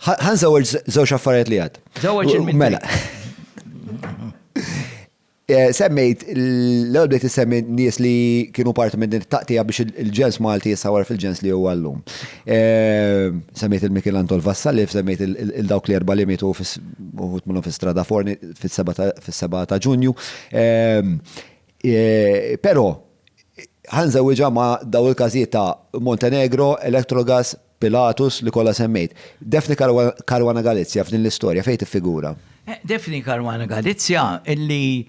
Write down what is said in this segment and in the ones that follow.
Ħan żewġ żewġ affarijiet li għad. Żewġ il Mela. Eh, semmejt, l-ewwel bdejt issemmi nies li kienu parti minn din taqtija biex il-ġens Malti jissawar fil-ġens li huwa llum. Eh, semmejt il-Mikil Anton Vassalif, semmejt il-dawk li erba' li mitu uħut minnhom fi strada forni fis-7 ta' Ġunju. Eh, però ħanżewġa ma' daw il-każijiet ta' Montenegro, Electrogas, Pilatus, li kollha semmejt. Daphne Caruana Galizia f'din l-istorja fejn tiffigura? Daphne Caruana Galizia li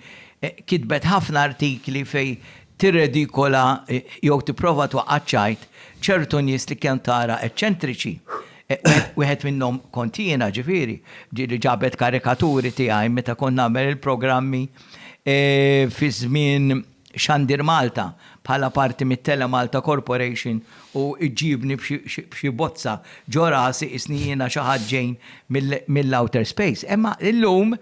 kitbet ħafna artikli fejn tirredikola jew tipprova twaqqa' ċ-ċajt ċertu nies li kemm tara eċċentriċi. Wieħed minnhom kont jiena ġifieri, ġieli ġabet karikaturi tiegħi meta kont nagħmel il-programmi fi żmien Xandir Malta, bħala parti mit-Telemalta Corporation u iġġibni b'xi bozza ġo rasi qisni jiena xi ħadd ġej mill-outer space. Imma illum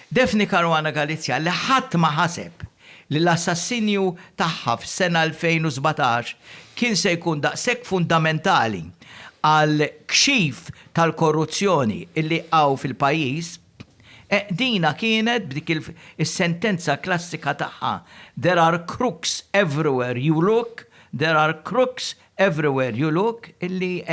Daphne Caruana Galizia li ħadd ma ħaseb li l-assassinju tagħha fis-sena 2017 kien se jkun daqshekk fundamentali għall-kxif tal-korruzzjoni li hawn fil-pajjiż, Dina kienet b'dik is-sentenza klassika tagħha, There are crooks everywhere you look, there are crooks everywhere you look, illi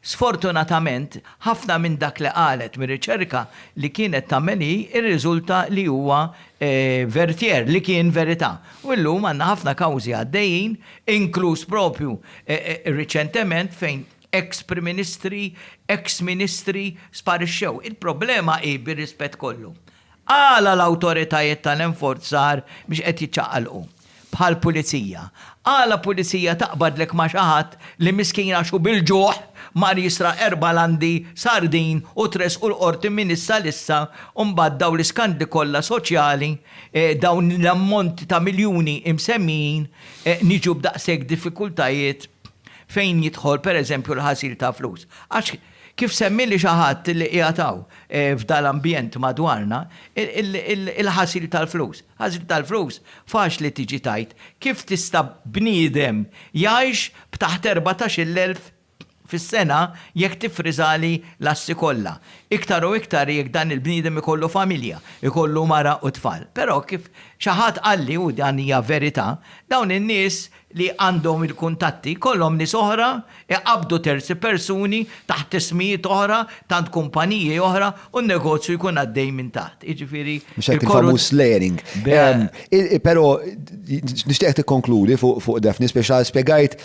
sfortunatament ħafna minn dak li qalet mir-riċerka li kienet tagħmel hi rriżulta li huwa vertier, li kien verità. U llum għandna ħafna kawżi għaddejjin, inkluż proprju riċentement fejn Eks Prim Ministri, eks Ministri sparixxew. Il-problema hi, bir-rispett kollu, għala l-awtoritajiet tal-enforzar mhux qed jiċċaqalqu? Bħall-Pulizija. Għala Pulizija taqbadlek ma' xi ħadd li miskin għax hu bil-ġuħ mar jisraq erba' landi sardin u tressqu l-Qorti minn issa l-issa u mbagħad dawn l-iskandli kollha soċjali, dawn l-ammonti ta' miljuni imsemmijin, niġu b'daqshekk diffikultajiet? fejn jidħol pereżempju l-ħasil ta' flus. Għax kif semmieli xi ħadd li qiegħed hawn f'dan l-ambjent madwarna, il-ħasil tal-flus. Ħasil tal-flus faċli tiġi tgħid kif tista' bniedem jgħix b'taħt erbatax-il elf fis-sena jekk tiffriżali l-assi kollha. Iktar u iktar jekk dan il-bniedem ikollu familja, ikollu mara u tfal. Però kif xi ħadd qalli, u dan hija verità, dawn in-nies li għandhom il-kuntatti jkollhom nies oħra jqabbdu terzi persuni taħt ismijiet oħra t'għand kumpaniji oħra u n-negozju jkun għaddej minn taħt. Jiġifieri Mhux hekk il-famuż layering. Però nixtieqek tikkonkludi fuq Daphne spiex spjegajt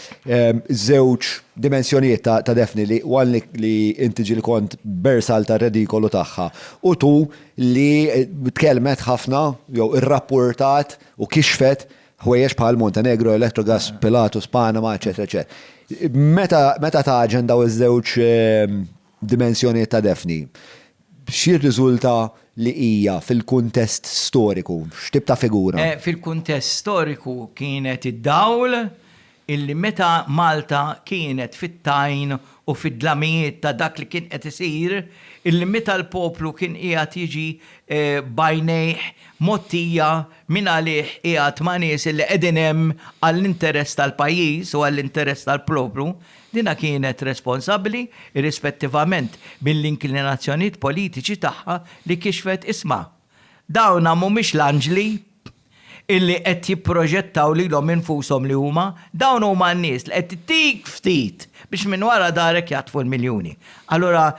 żewġ dimensjonijiet ta' Daphne li one li inti ġieli kont bersal tar-redikolu tagħha u two li tkellmet ħafna jew irrappurtat u kixfet ħwejjeġ bħal Montenegro, Electrogas, Pilatus, Panama, eċetera, eċetera. Meta taġen daw iż-żewġ ehm, dimensjonijiet ta' defni, xi riżulta li hija fil-kuntest storiku, x'tib ta' figura? Eh, fil-kuntest storiku kienet id-dawl illi meta Malta kienet fit-tajn u fid-dlamijiet ta' dak li kien qed isir, illi meta l-poplu kien qiegħed jiġi b'għajnejh mgħottija min għalih qiegħed ma' nies illi qegħdin hemm għall-interess tal-pajjiż u għall-interess tal-poplu, dinha kienet responsabbli, irrispettivament mill-inklinazzjonijiet politiċi tagħha, li kixfet isma', dawna mhumiex l-anġli! illi qed jipproġettaw lilhom infushom li huma, dawn huma n-nies li qed ittik ftit biex minn wara darek jaħtfu l-miljuni. Allura,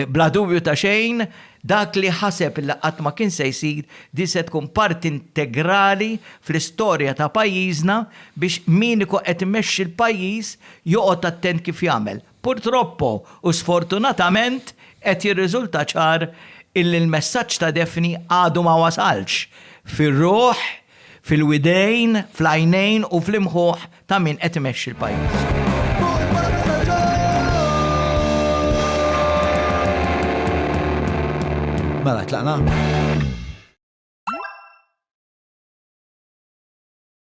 bla dubju ta' xejn, dak li ħaseb li qatt ma kien se jsir, din se tkun parti integrali fl-istorja ta' pajjiżna biex min ikun qed imexxi l-pajjiż joqgħod attent kif jagħmel. Purtroppo u sfortunatament qed jirriżulta ċar illi l-messaġġ ta' Daphne għadu ma wasalx fir-ruħ, fil-widejn, fl-għajnejn u fl-imħuħ ta' min qed imexxi l-pajjiż. Mela tlaqna?